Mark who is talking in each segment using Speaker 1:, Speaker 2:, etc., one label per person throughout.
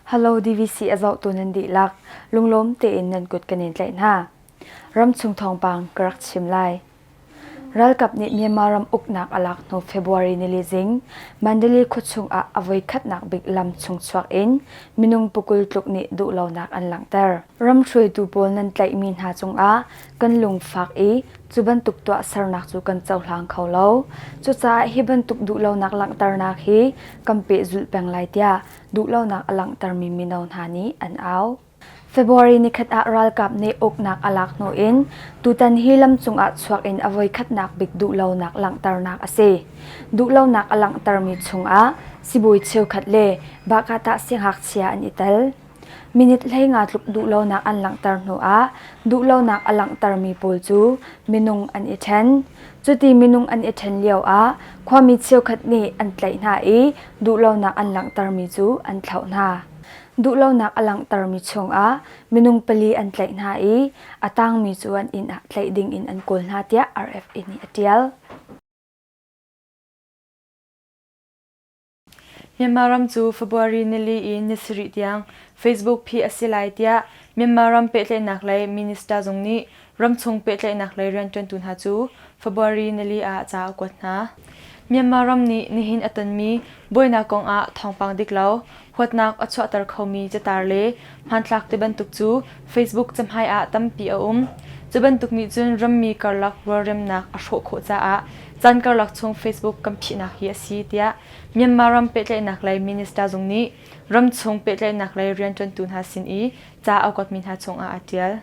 Speaker 1: Halo DVC a zohtu nan dihlak lunglawm tein nan kut kan in tlaih hna. Ramchung thawngpang ka rak chim lai. Ralkap nih Myanmar ram uknak a lak hnu February nili zing Mandalay khuachung ah a voi khatnak bik lam chung chuak in minung pukul tluk nih duhlonak an langhter. Ram hruaitu pawl nan tlaihmi hna cung ah kan lungfak i cu bantuk tuahsernak cu kan cohlang kho lo. Cucaah hi bantuk duhlonak langhternak hi kan pehzulh peng lai tiah duhlonak a langhtermi mino hna nih an au. February nikhat ah ralkap nih uknak a lak hnu in tutan hi lam cungah chuak in a voikhatnak bik duhlonak langhternak a si. Duhlonak a langhtermi chungah sibawi cheukhat le Bahkatah singhakchia an i tel. Minit hleinga tluk duhlonak an langhter hnuah duhlonak a langhtermi pawl cu minung an i ṭhen. Cuti minung an i ṭhen lioah khuami cheukhat nih an tlaih hna i duhlonak an langhtermi cu an thlauh hna. Duhlonak a langhtermi chungah minung pali an tlaih hna i a tangmi cu an inn ah tlaih dingin an kawl hna tiah RFA nih a ṭial.
Speaker 2: Myanmar ram cu February nili i ni sarih tiang Facebook phih a si lai tiah Myanmar ram pehtlaihnak lei minister zung nih ramchung pehtlaihnak lei rianṭuantu hna cu February nili ah ca a kuat hna. Myanmar ram nih nihin a tonmi buainak kongah thawngpang dik lo, huatnak a chuahter khomi catar le Hmanthlak ti bantuk cu Facebook cahmai ah tampi a um. Cu bantuk nih cun rammi karlak rualremnak a hrawh khawh caah caan karlak chung Facebook kan phihnak hi a si tiah Myanmar ram pehtlaihnak lei minister zung nih ramchung pehtlaihnak lei rianṭuantu hna sin i ca a kuatmi hna cungah aa ṭial.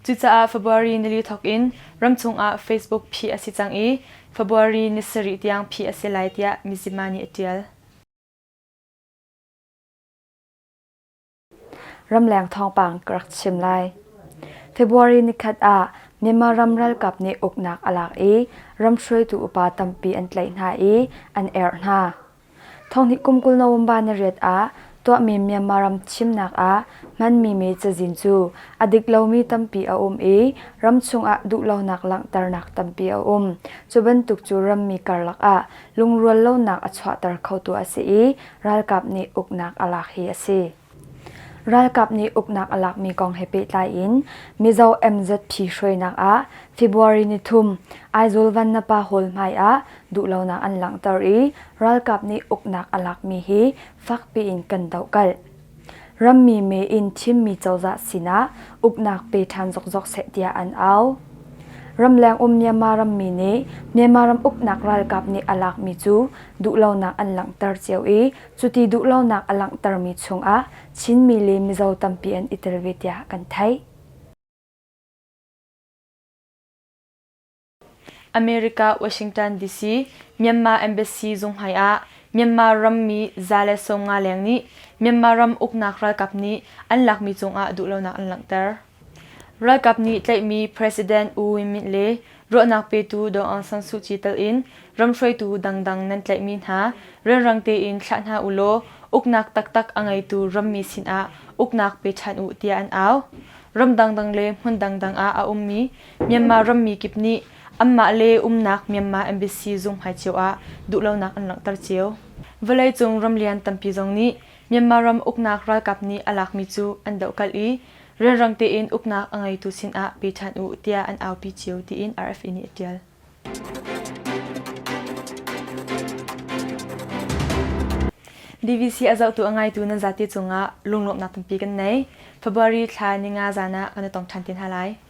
Speaker 2: Cucaah February nili thawk in ramchung ah Facebook phih a si cang i February ni sarih tiang phih a si lai tiah Mizzima nih a ṭial.
Speaker 1: Ramleng thawngpang ka rak chim lai. February nikhat ah Myanmar ram ralkap nih uknak a lak i ram hruaitu upa tampi an tlaih hna i an erh hna. Thonghnih kum kul November ni riat ah tuahmi Myanmar ram thimnak ah hmanmi mi cazin cu a dik lomi tampi a um i ram chungah duhlonak langhternak tampi a um. Cu bantuk cu rammi karlak ah lungrual lonak a chuahter khotu a si i ralkap nih uknak a lak hi a si. Ralkap nih uknak a lakmi kong he pehtlai in Mizo MZP hruainak ah February ni thum Aizawl Vannapa Hall hmai ah duhlonak an langhter i ralkap nih uknak a lakmi hi fakpi in kan dohkalh. Rammi mee in thimmi cozah sinah uknak pe ṭhan zokzok seh tiah an au. Ramleng um Myanmar rammi nih Myanmar ram uknak ralkap nih a lakmi cu duhlonak an langhter cio i cuti duhlonak a langhtermi chungah Chinmi le Mizo tampi an i tel ve tiah kan theih.
Speaker 2: America Washington DC Myanmar Embassy zunghmai ah Myanmar rammi za le sawmnga leng nih Myanmar ram uknak ralkap nih an lakmi cungah duhlonak an langhter. Ralkap nih tlaihmi President U Win Myint le ruahnak petu Aung San Suu Kyi telh in ram hruaitu dangdang nan tlaihmi hna rianrang tein thlah hna u law uknak taktak a ngeitu rammi sinah uknak pe ṭhan u tiah an au. Ram dangdang le hmun dangdang ah a ummi Myanmar rammi kip nih anmah le umnak Myanmar embassy zung hmai cio ah duhlonak an langhter cio. Vawleicung ramlian tampi zong nih Myanmar ram uknak ralkap nih a lakmi cu an dohkalh i rianrang tein uknak a ngeitu sinah pe ṭhan u tiah an aupi cio tiin RFE nih a ṭial. BBC a zohtu a ngaitu nan zate cungah lunglawmhnak tampi kan nei. February thla ninga zan ah kan i tong ṭhan te hna lai.